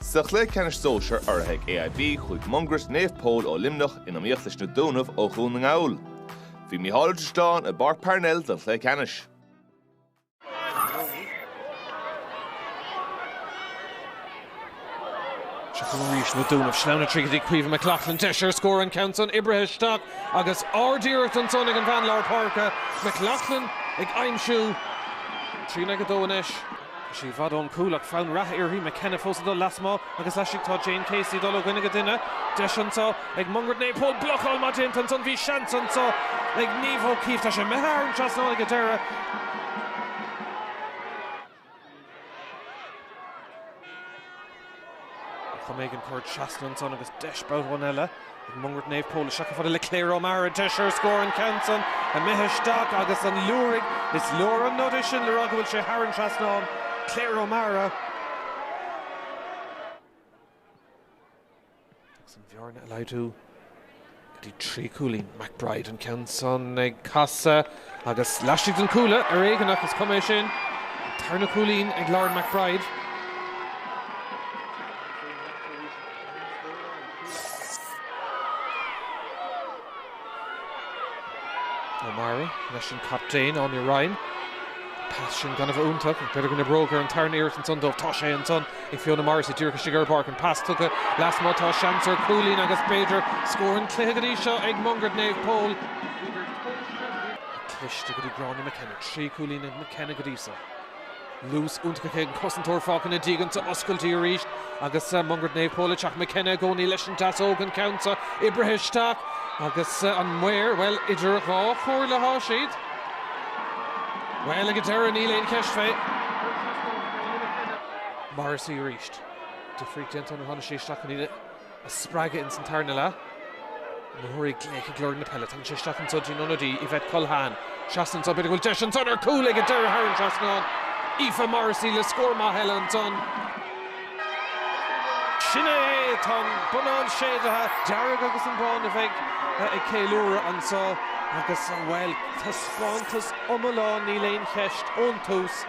Sa chluiche ceannais sóisear urraithe ag AIB, chuaigh Mungairit Naomh Pól ó Luimneach in iomaíocht leis Na Dúnaibh ó Dhún na nGall. Bhí Micheál Ó Drisleáin i bPáirc Parnell don chluiche ceannais. Seo chugainn arís Na Dúnaibh. Sleamhnán tríd go dtí Caoimhe McLaughlin. Deis ar scór, an ceann san oibrithe isteach agus ardiarracht ansan ag an bhean lár páirce. McLaughlin ag aimsiú. Trí in aghaidh a dó anois. Is í i bhfad ón gcúl ach fonn reatha uirthi, McKenna fós ag dul lasmuigh agus laistigh, tá Jane Casey ag dul ó dhuine go duine, deis anseo ag Mungret Naomh Pól blocáil mhaith déanta ansan, bhí seans anseo ag Niamh O'Keeffe, tá sé imithe thar an trasnán ag an deireadh. Chomh maith ag an gcur trasna ansan agus deis b'fhéidir amháin eile ag Mungairit Naomh Pól isteach chomh fada le Claire O'Mara, deis ar scór an ceann san imithe isteach agus an liúirigh is leor an nod é sin le rá go bhfuil sé thar an trasnán, Claire O'Mara. agus an bhearna a laghdú go dtí trí chúilín. McBride an ceann san ag casadh agus laistigh den chuaille, ar éigean ach is cuma é sin. An tarna cúilín ag Lauren McBride. O'Mara leis an captaen, Áine Ryan. Pas sin gan a bheith iontach, ach b'fhéidir go n-oibreoidh ar an tarna iarracht ansan dóibh. Tá sé ansan ag Fiona Morrissey díreach istigh ar an bpáirc. An pas tugtha lasmuigh, tá seans ar chúilín agus b'fhéidir scór an cluiche go dtí seo ag Mungairit Naomh Pól. Cliste go dtí Gráinne McKenna. Trí chúilín ag McKenna go dtí seo. Luas iontach aici, an cosantóir fágtha ina diaidh anso, oscailte arís agus Mungairit Naomh Pól ag teacht. McKenna i gcónaí leis an deasóg, an ceann seo oibrithe isteach agus na maoir, bhuel, idir dhá chomhairle atá siad. Bhuel, ag an deireadh níl aon cheist fé. Morrissey arís. Difríocht déanta ann ó tháinig sé isteach an Aoine. a spreagadh ins an tarna leath. O'Mara ag glaoch ag lorg na peile tagann sé isteach anso dtí'n ionadaí, Yvette Culhane. Trasna anso, b'fhéidir go bhfuil deis anso ar chúl ag an deireadh thar an trasnán, Aoife Morrissey le scór maith eile ansan. Sin é é, tá an bonnán séidte, dearg agus an bán a bheidh ag ceiliúradh anso agus, bhuel, taispeántas iomlán níl aon cheist, ón tús.